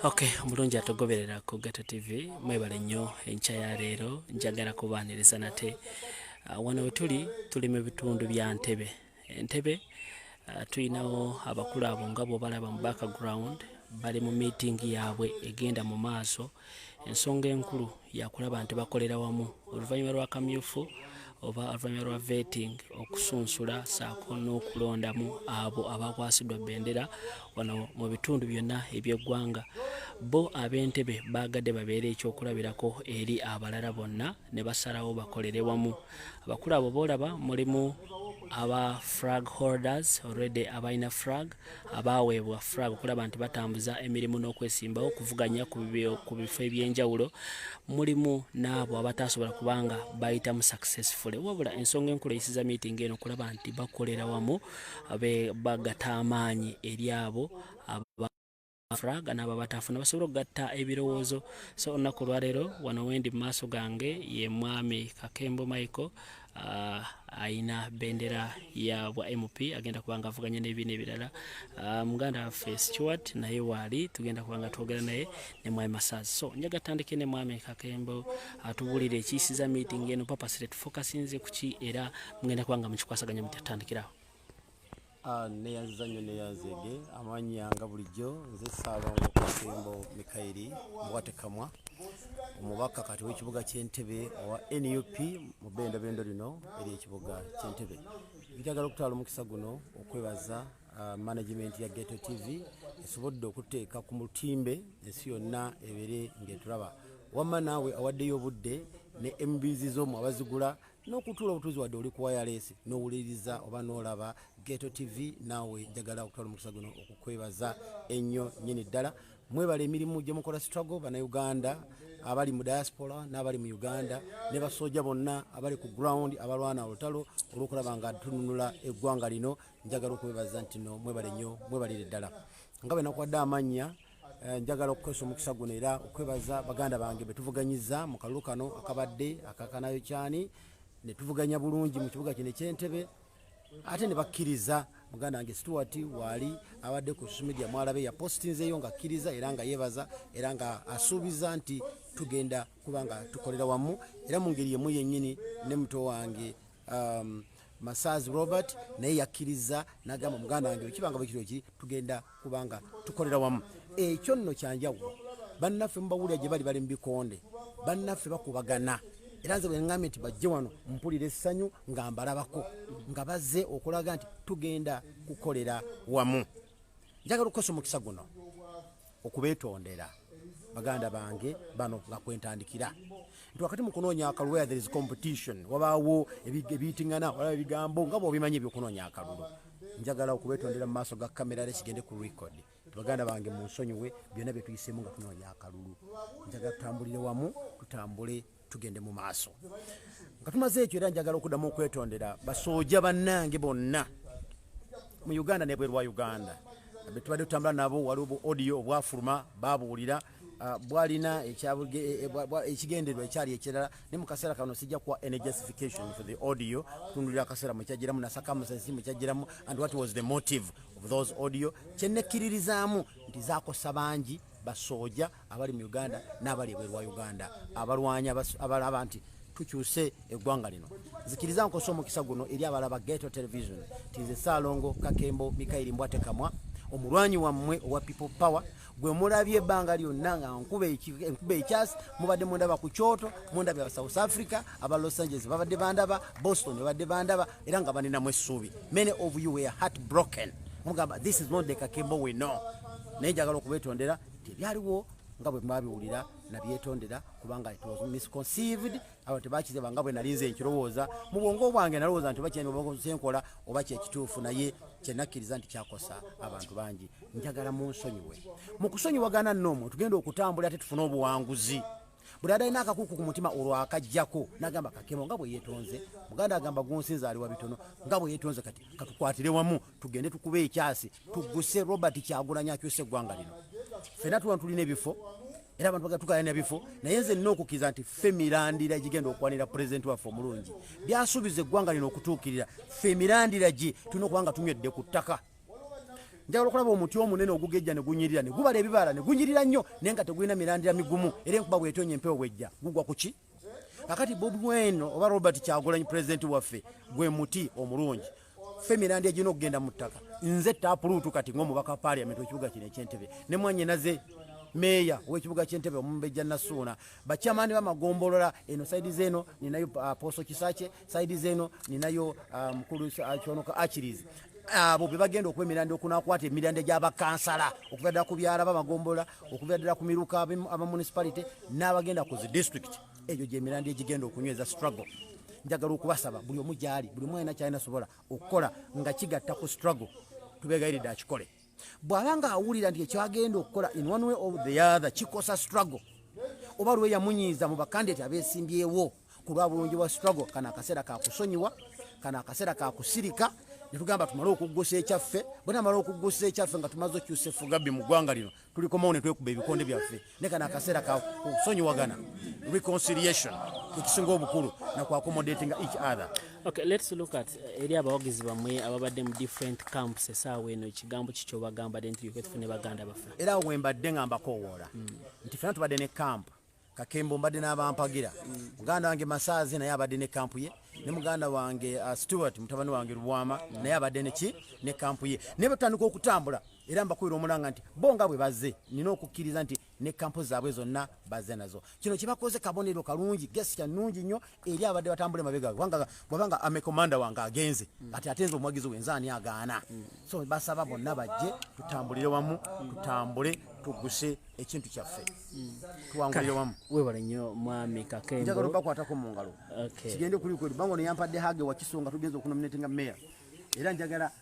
ok omulungi atugoberera ku gato tv mwebale nnyo enkya ya leero njagala kubaaniriza nate ah, wano wetuli tuli mu bitundu bya ntebe entebe ah, tulinawo abakulu abo nga bwobalaba mu background bali mu meeting yaabwe egenda mu maaso uh, Ensonga enkulu yakulaba nti bakolera wamu oluvannyuma lwa kamyufu oba oluvannyuma lwa vetting okusunsula saako n'okulondamu abo abakwasiddwa bendera wano mu bitundu byonna eby'eggwanga bo ab'entebe baagadde babeera ekyokulabirako eri abalala bonna ne basalawo bakolere wamu abakulu abo boolaba mulimu aba frag holders already abalina frag abaaweebwa frag okulaba nti batambuza emirimu n'okwesimbawo okuvuganya ku bifo eby'enjawulo mulimu n'abo abataasobola kubanga bayitamu successfully wabula ensonga enkulu eyisiza miitingi eno okulaba nti bakolera wamu bagata amaanyi eri abo aba fraga nabo batafuna basobola okugatta ebirowoozo so olunaku olwaleero wano wendi mu maaso gange ye mwami kakembo michael Uh, ayina bendera ya bwa mp agenda kuba nga avuganya n'ebiina ebirala uh, muganda waffe stewart naye waali tugenda kuba nga twogera naye ne mwami masaazi so njaga tandike ne mwami kakembo atubuulira uh, ekiyisiza meeting eno papasire tufokasinze kuki era mugenda kuba nga mukikwasaganya mutatandikirawo Ah, neyanziza nnyo neyanzege amanya nga bulijjo nze saalongo kasembo mikayiri muwatekamwa omubaka kati wekibuga kyentebe owa nup mu bendabendo lino eri ekibuga kyentebe njagala okutwala omukisa guno okwebaza ah, management ya geto tv esobodde okuteeka ku mutimbe ensi yonna ebere ngaetulaba wamma naawe awaddeyo obudde ne mbs zomu abazigula n'okutuula obutuuzi wadde oli kuwayaleesi n'owuliriza oba n'olaba geto tv naawe njagala okutwala omukisa guno okukwebaza ennyo nyini ddala mwebala emirimu gye mukola struggle banauganda abali mu diaspora n'abali mu uganda ne basooja bonna abali ku ground abalwana olutalo olwokulaba nga tununula eggwanga lino njagala okwebaza nti no mwebale nnyo mwebalire ddala nga bwe nakuwadde amannya Eh, njagala okukozesa omukisa guno era okwebaza baganda bange betuvuganyiza mu kalulu kano akabadde akakanayo kyani netuvuganya bulungi mu kibuga kino ekyentebe ate ne bakkiriza muganda wange stuart waali abadde ku social media mwalabe yapostinzeyo nga akkiriza era nga yebaza era nga asuubiza nti tugenda kuba nga tukolera wamu era mu ngeri yemu yennyini ne muto wange um, Masaz Robert naye yakkirizza n'agamba muganda wange bwe kibanga bwe kiro ki tugenda kubanga tukolera wamu ekyo nno kyanjawulo bannaffe mubawulira gye bali bali mu bikonde bannaffe bakubagana era nze bwengambye nti bajje wano mpulira essanyu nga mbalabako nga bazze okulaga nti tugenda kukolera wamu njagala okukosa omukisa guno okubetondera baganda bange bano nga kwentandikira nti wakati mu kunoonya akalulu where there is competition wabaawo ebiyitingana olaba ebigambo nga bwobimanyi ebyokunoonya akalulu njagala okubetondera mu maaso ga kamera era kigende ku record baganda bange mu nsonyiwe byonna byetuyisemu nga tunoonya akalulu njagala tutambulire wamu tutambule tugende mu maaso nga tumaze ekyo era njagala okuddamu okwetondera basooja bannange bonna mu uganda nebweru wa uganda betubadde tutambula nabo waliwo bu audio obwafuluma babuwulira ah, bwalina e, e, ekigendererwa ekyali ekirala ne mu kaseera kano sijja kuwa any justification for the audio kutundulira akaseera mukyajiramu nasakamusensi mukyajiramu and what was the motive of those audio kyenekkiririzaamu nti zakosa bangi basooja abali mu uganda n'abali ebweru wa uganda abalwanyi abalaba nti tukyuse eggwanga lino zikiriza nkosa omukisa guno eri abalaba geto television tinze saalongo kakembo mikairi mbwatekamwa omulwanyi wammwe owa people power gwe mulabye ebbanga lyonna nga nkuba ekyasi mubadde mundaba ku kyoto mundabye aba south africa aba los angeles babadde bandaba boston babadde bandaba era nga baninamu essuubi many of you were heart broken mugamba this is not the kakembo we know naye njagala okubetondera tebyaliwo nga bwe mwabiwulira nabyetondera kubanga it was misconceived abantu tebakizeba nga bwe nalinze nkirowooza mu bwongo bwange nalowooza nti oba kyenkola oba kyekituufu naye kyenakkiriza nti kyakosa abantu bangi njagala munsonyiwe mu kusonyiwagana noomu tugenda okutambula ate tufune obuwanguzi buli adalina akakuku ku mutima olwo akajjako nagamba kakemo nga bwe yetonze muganda agamba gunsinza ali wa bitono nga bwe yetonze kati katukwatire wamu tugende tukube ekyasi tuguse robert kyagulanya akyuse eggwanga lino fena tuwa tulina ebifo era abantu baga tukalanya bifo naye nze nina okukiza nti fe mirandira egigenda okwanira pulezidenti waffe omulungi byasuubiza eggwanga lino okutuukirira fe mirandira gi tulina okuba nga tunywedde ku ttaka njagala okulaba omuti omunene ogugejja ne gunyirira ne gubala ebibala ne gunyirira nnyo naye nga tegulina mirandira migumu era enkuba bwetonya empewo bwejja gugwa ku ki kakati bobi weno oba robert kyagulanyi pulezidenti waffe gwe muti omulungi fe mirandi egina okugenda mu ttaka nze tapuluutu kati ngaomubaka paliament wekibuga kino ekyentebe ne mwanyinaze meeya wekibuga kyentebe omumbejja nasuuna bakyamani bamagombolola eno saidi zeeno ninayo uh, poso kisakye saidi zeno ninayo uh, mukulu uh, kyonoka achirizi abo be bagenda okuba emirandira okunakwata emirandira gyabakansala okuva ddala ku byalo bamagombola okuva ddala ku miruka aba municipality n'abagenda ku zi district egyo gyemirandira egigenda okunyweza struggle njagala okubasaba buli omu gyali buli omu alina kyalina sobola okukola nga kigatta ku struggle tubegayiridde akikole bw'aba ng'awulira nti ekyagenda okukola in one way of the other kikosa struggle oba lwe yamunyiiza mu bakandidati abeesimbyewo ku lwa bulungi bwa struggle kano akaseera kakusonyiwa kano akaseera kakusirika netugamba tumale okuggusa ekyaffe bwenamala okuggusa ekyaffe nga tumaze okyusa effugabi mu ggwanga lino tulikomawo ne twekuba ebikonde byaffe ne kano akaseera ka kusonyiwagana reconciliation ekisinga obukulu nakwakomodatinga each other okay let's look at eh, eri abawagizi bamwe ababadde mu different camps esaawa eno ekigambo kikyo bagambadde nti yokwe tufune baganda baffe era awo wembadde nga mbakowoola hmm. nti fena tubadde ne camp kakembo mbadde n'abampagira hmm. muganda wange masaazi naye abadde ne camp ye ne muganda wange uh, stewart mutabani wange lubwama hmm. naye abadde neki ne camp ye naye batandika okutambula era mbakubira omulanga nti bo nga bwe bazze nina okukkiriza nti ne kampo zaabwe zonna bazze nazo kino kye bakoze kabonero kalungi gesi kya nnungi nnyo eri abadde batambula emabega kubanga bwabanga amekomanda wange agenze mm. kati ate nze omuwagizi wenze ani agaana mm. so basaba bonna bajje tutambulire wamu tutambule tuguse ekintu kyaffe mm. tuwangulire wamu webale nnyo mwami kakembonjagala obakwatako mu ngalo kigende kulikweri banga ono yampadde hage wakiso nga tugenza okunominatinga meya era njagala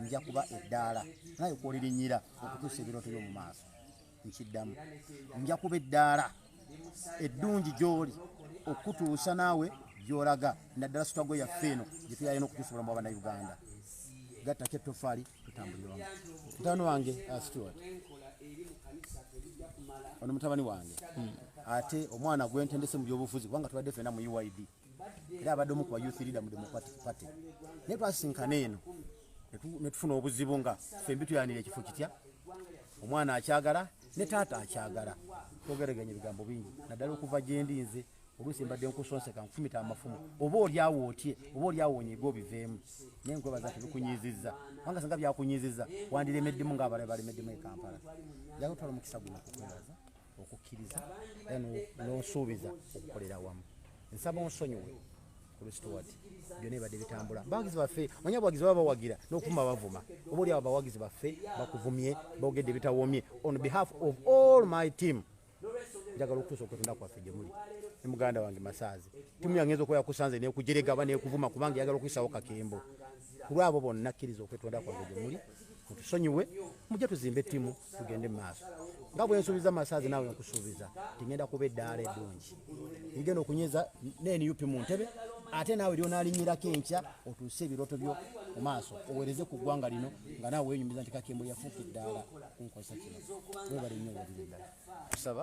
nja kuba eddaala naye kwolirinyira okutuusa ebirooto byomu maaso nkiddamu nja kuba eddaala eddungi gy'oli okutuusa naawe gy'olaga naddala sitwago yaffe eno gye tuyaye n'okutuusa obulamu bwa bannayuganda gattako ettofaali tutambuliramu mutabani wange uh, stewart ono mutabani wange hmm. ate omwana gwentendese mu byobufuzi kubanga tubadde fena mu uid era abadde omu ku ba youth leader mu democratic party naye twasisinkana eno ne tufuna obuzibu nga ffe mbi tuyanira ekifo kitya omwana akyagala ne taata akyagala twogereganya ebigambo bingi naddala okuva gyendi nze oluusi mbadde nkusonseka nkufumita amafumu oba olyawo otye oba olyawo onyega obiveemu naye nkwebaza tebikunyiizizza kubanga singa byakunyiizizza wandiremeddemu ngaabalala balemeddemu e kampala yagotwala omukisa guno kukwebaza okukkiriza era n'onsuubiza okukolera awamu nsaba onsonyiwe kulustwat byona ebadde bitambula bawagizi baffe manya abawagizi baba bawagira n'okuvuma bavuma oba oli abo abawagizi baffe bakuvumye bogedde bitawomye on behalf of all my team njagala okutuusa okutunda kwaffe gye muli ne muganda wange masaazi timu yange nza okuba yakusanze nekujerega aba nekuvuma kubanga eyagala okuyisawo kakembo kulwa abo bonna kkiriza okwetonda kwange gye muli mutusonyiwe mujje tuzimbe ttimu tugende mu maaso nga bwe nsuubiza masaazi naawe nkusuubiza nti ngenda kuba eddaala eddungi ngenda okunyeza nenup mu ntebe ate naawe lyonalinyirako enkya otuuse ebirooto byo mu maaso owereze ku ggwanga lino nga naawe wenyumiza nti kakembo yafuuka eddaala kunkozesa kino webale nnyo wabiri ddala kusaba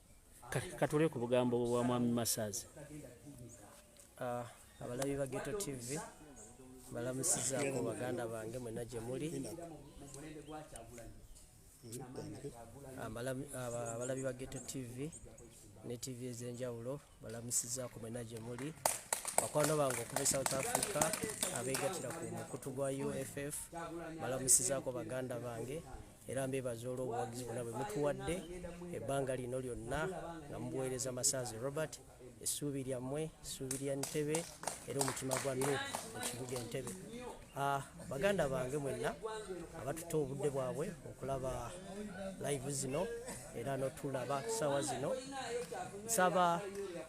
katule ku bugambo bwa mwami masaazi ah, abalabi ba geto tv balamusizaako baganda bange mwena gye muli abalabi ba geto tv ne tv ez'enjawulo balamusizaako mwena gye muli bakwano bange okuva e south africa abeegatira ku mukutu gwa uff balamusizaako baganda bange era mbebaza olw'obuwagizi bwona bwe mutuwadde ebbanga lino lyonna nga mubuweereza masaazi robert essuubi lyammwe essuubi lya ntebe era omutima gwa nu ekibuga entebe ah, baganda bange mwenna abatuta obudde bwabwe okulaba live zino era notulaba saawa zino nsaba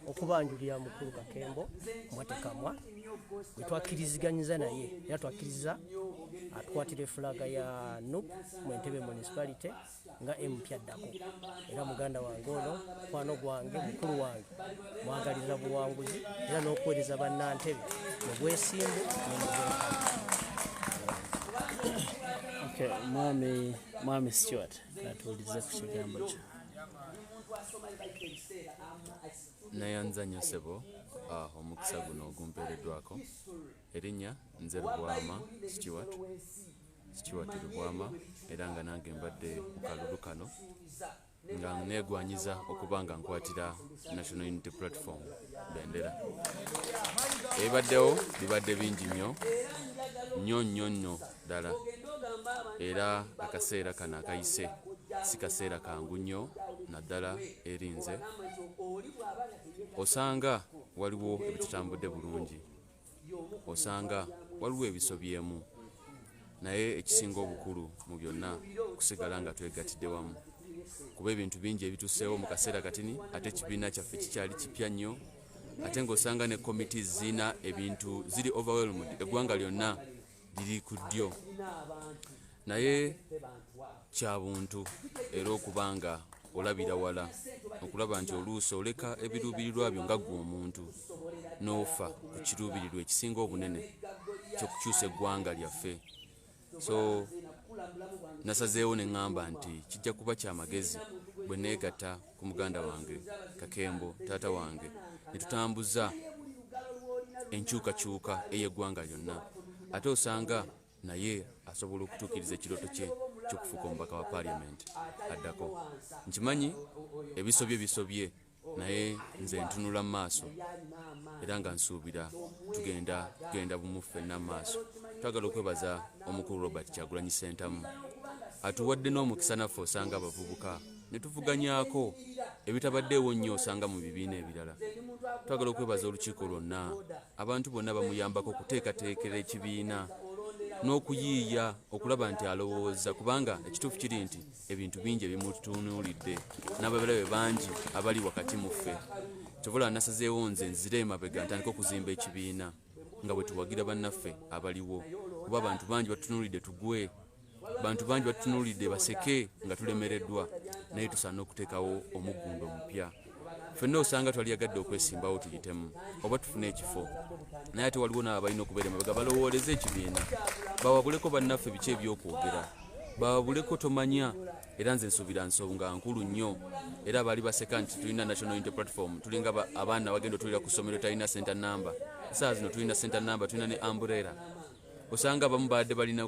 okubanjulira mukulu kakembo mwatekamwa gwe twakkiriziganyiza naye era twakkiriza atukwatira efulaga ya nup mu entebe municipality nga empya addako era muganda wange ono mukwano gwange mukulu wange mwagalirira buwanguzi era n'okuweereza bannantebe mu bwesimbu mwami mwami stewart atuulize ku kigambo kyo Nayanza nnyo ssebo ah, omukisa guno ogumpeereddwako erinnya nze Lubwama Stewart Stewart Lubwama era nga nange mbadde mu kalulu kano nga neegwanyiza okuba nga nkwatira National Unity Platform bendera ebibaddewo bibadde bingi nnyo nnyo nnyo nnyo ddala era akaseera kano akayise si kaseera kangu nnyo naddala erinze osanga waliwo ebitutambudde bulungi osanga waliwo ebisobyemu naye ekisinga obukulu mu byonna kusigala nga twegatidde wamu kuba ebintu bingi ebituseewo mu kaseera katini ate ekibiina kyaffe kikyali kipya nnyo ate ng'osanga ne committees zirina ebintu ziri overwhelmed eggwanga lyonna liri ku ddyo naye kya buntu era okuba nga olabira wala okulaba nti oluusi oleka ebiruubirirwa byo nga ggwe omuntu n'ofa ku kiruubirirwa ekisinga obunene kyokukyusa eggwanga lyaffe so nasazeewo ne ŋŋamba nti kijja kuba kya magezi bwe neegatta ku muganda wange kakembo taata wange ne tutambuza enkyukakyuka ey'eggwanga lyonna ate osanga naye asobola okutuukiriza ekirooto kye kyokufuuka omubaka wa parliament addako nkimanyi ebisobye bisobye naye nze ntunula mu maaso era nga nsuubira tugenda tugenda bumu ffenna mu maaso twagala okwebaza omukulu robert kyagulanyi sentamu atuwadde n'omukisa naffe osanga abavubuka ne tuvuganyaako ebitabaddeewo nnyo osanga mu bibiina ebirala twagala okwebaza olukiiko lwonna abantu bonna bamuyambako okuteekateekera ekibiina n'okuyiiya okulaba nti alowooza kubanga ekituufu kiri nti ebintu bingi ebimutunuulidde n'ababalabe bangi abali wakati mu ffe kyobola nasazeewo nze nzire emabega ntandika okuzimba ekibiina nga bwe tuwagira bannaffe abaliwo kuba abantu bangi batunuulidde tugwe bantu bangi batutunulidde baseke nga tulemereddwa naye tusaana okuteekawo omuggundo omupya fenna osanga twali yagadde okwesimbawo tuyitemu oba tufune ekifo naye ate waliwo naabo balina okubeera emabega balowooleze ekibiina bawabuleko bannaffe biki ebyokwogera bawabuleko tomanya era nze nsuubira nsonga nkulu nnyo era baali baseka nti tulina national unity platform tulinga abaana bagenda otulira ku ssomero talina center number saa zino tulina center number tulina ne amburera osanga abamu baadde balina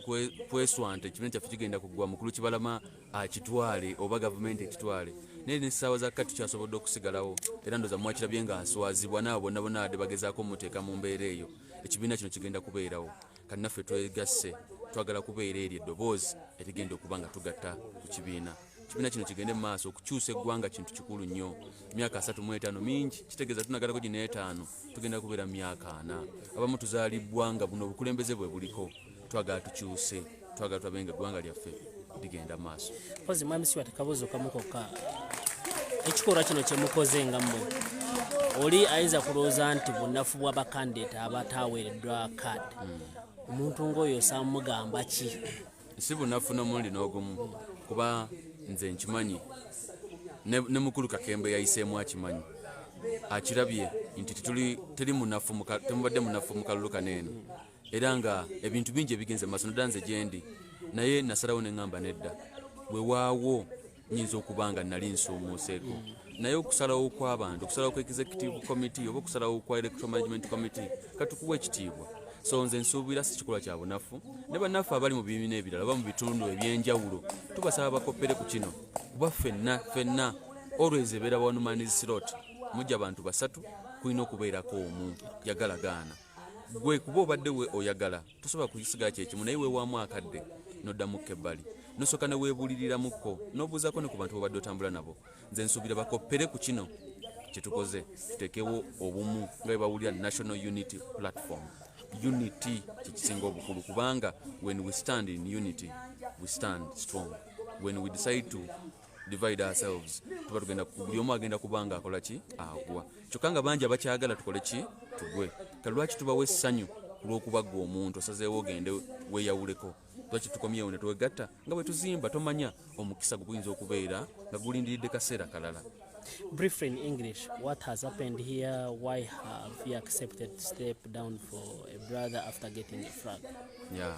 kweswanta ekibiina kyaffe kigenda kugwa mukulu kibalama akitwale oba gavumenti ekitwale naye nesaawa zakka tukyasobodde okusigalawo era ndoza mwakirabye nga aswazibwa naabo bonna bona badde bagezaako omuteeka mu mbeera eyo ekibiina kino kigenda kubeerawo kannaffe twegasse twagala kubeera eryo eddoboozi erigenda okuba nga tugatta ku kibiina ekibiina kino kigende mu maaso okukyusa eggwanga kintu kikulu nnyo emyaka asatu mu etaano mingi kitegeeza tunagalako gino etaano tugenda kubeera mu myaka ana abamu tuzaalibbwa nga buno obukulembeze bwe buliko twagala tukyuse twagala tulabe nga eggwanga lyaffe ligenda mu maaso mpozi mwami siwa tekabuuzo kamu kokka ekikolwa kino kyemukoze nga mmwe oli ayinza kulowooza nti bunafu bwa bakandidate abataaweereddwa kaadi hmm. omuntu ng'oyo osaamugamba ki si bunafu n'omulundi n'ogumu kuba nze nkimanyi ne mukulu kakembe yayiseemu akimanyi akirabye nti teri munafu temubadde munafu mu kalulu kano eno era nga ebintu bingi ebigenze maaso nodda nze gyendi naye nasalawo ne ŋŋamba nedda wewaawo nyinza okuba nga nali nsoomoseeko naye okusalawo kw'abantu okusalawo ku executive committee oba okusalawo kwa electoral management committee katukuwa ekitiibwa so nze nsuubira si kikolwa kya bunafu ne bannaffe abali mu bibiina ebirala oba mu bitundu eby'enjawulo tubasaba bakoppere ku kino kuba ffenna ffenna olwezi ebeera one man's slot mujja bantu basatu kulina okubeerako omu yagala gaana gwe kuba obadde we oyagala tosobola kusigala kyekimu naye wewaamu akadde noddamukko ebbali nosooka neweebuuliriramukko nobuuzaako ne ku bantu bobadde otambula nabo nze nsuubira bakoppere ku kino kyetukoze tutekewo obumu nga bebawulira national unity platform unity kyekisinga obukulu kubanga when we stand in unity we stand strong when we decide to divide ourselves tuba tugenda buli omu agenda kubanga akola ki agwa kyokka nga bangi abakyagala tukole ki tugwe kale lwaki tubawo essanyu kulwokuba gwe omuntu osazeewo ogende weyawuleko lwaki tukomyewo ne twegatta nga bwe tuzimba tomanya omukisa guguyinza okubeera nga gulindiridde kaseera kalala briefly in english what has happened here why have you accepted step down for a brother after getting a frag yeah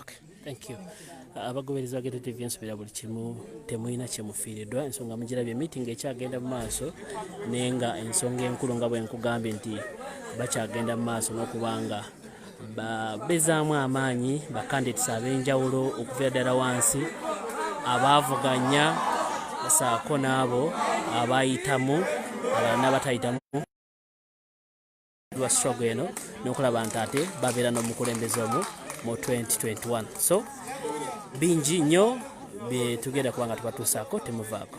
Okay, thank you. abagoberezi bagenda tv nsubira buli kimu temulina kyemufiiridwa ensonga mugirabye meeting ekyagenda mu maaso naye nga ensonga enkulu nga bwenkugambye nti bakyagenda mu maaso n'okubanga babezaamu amaanyi bakandidates ab'enjawulo okuviira ddala wansi abaavuganya saako n'abo abayitamu abalala n'abatayitamu lwa struggle eno nokulaba nti ate babeera n'omukulembeze omu mu 2021 so bingi nnyo byetugenda kuba nga tubatuusaako temuvaako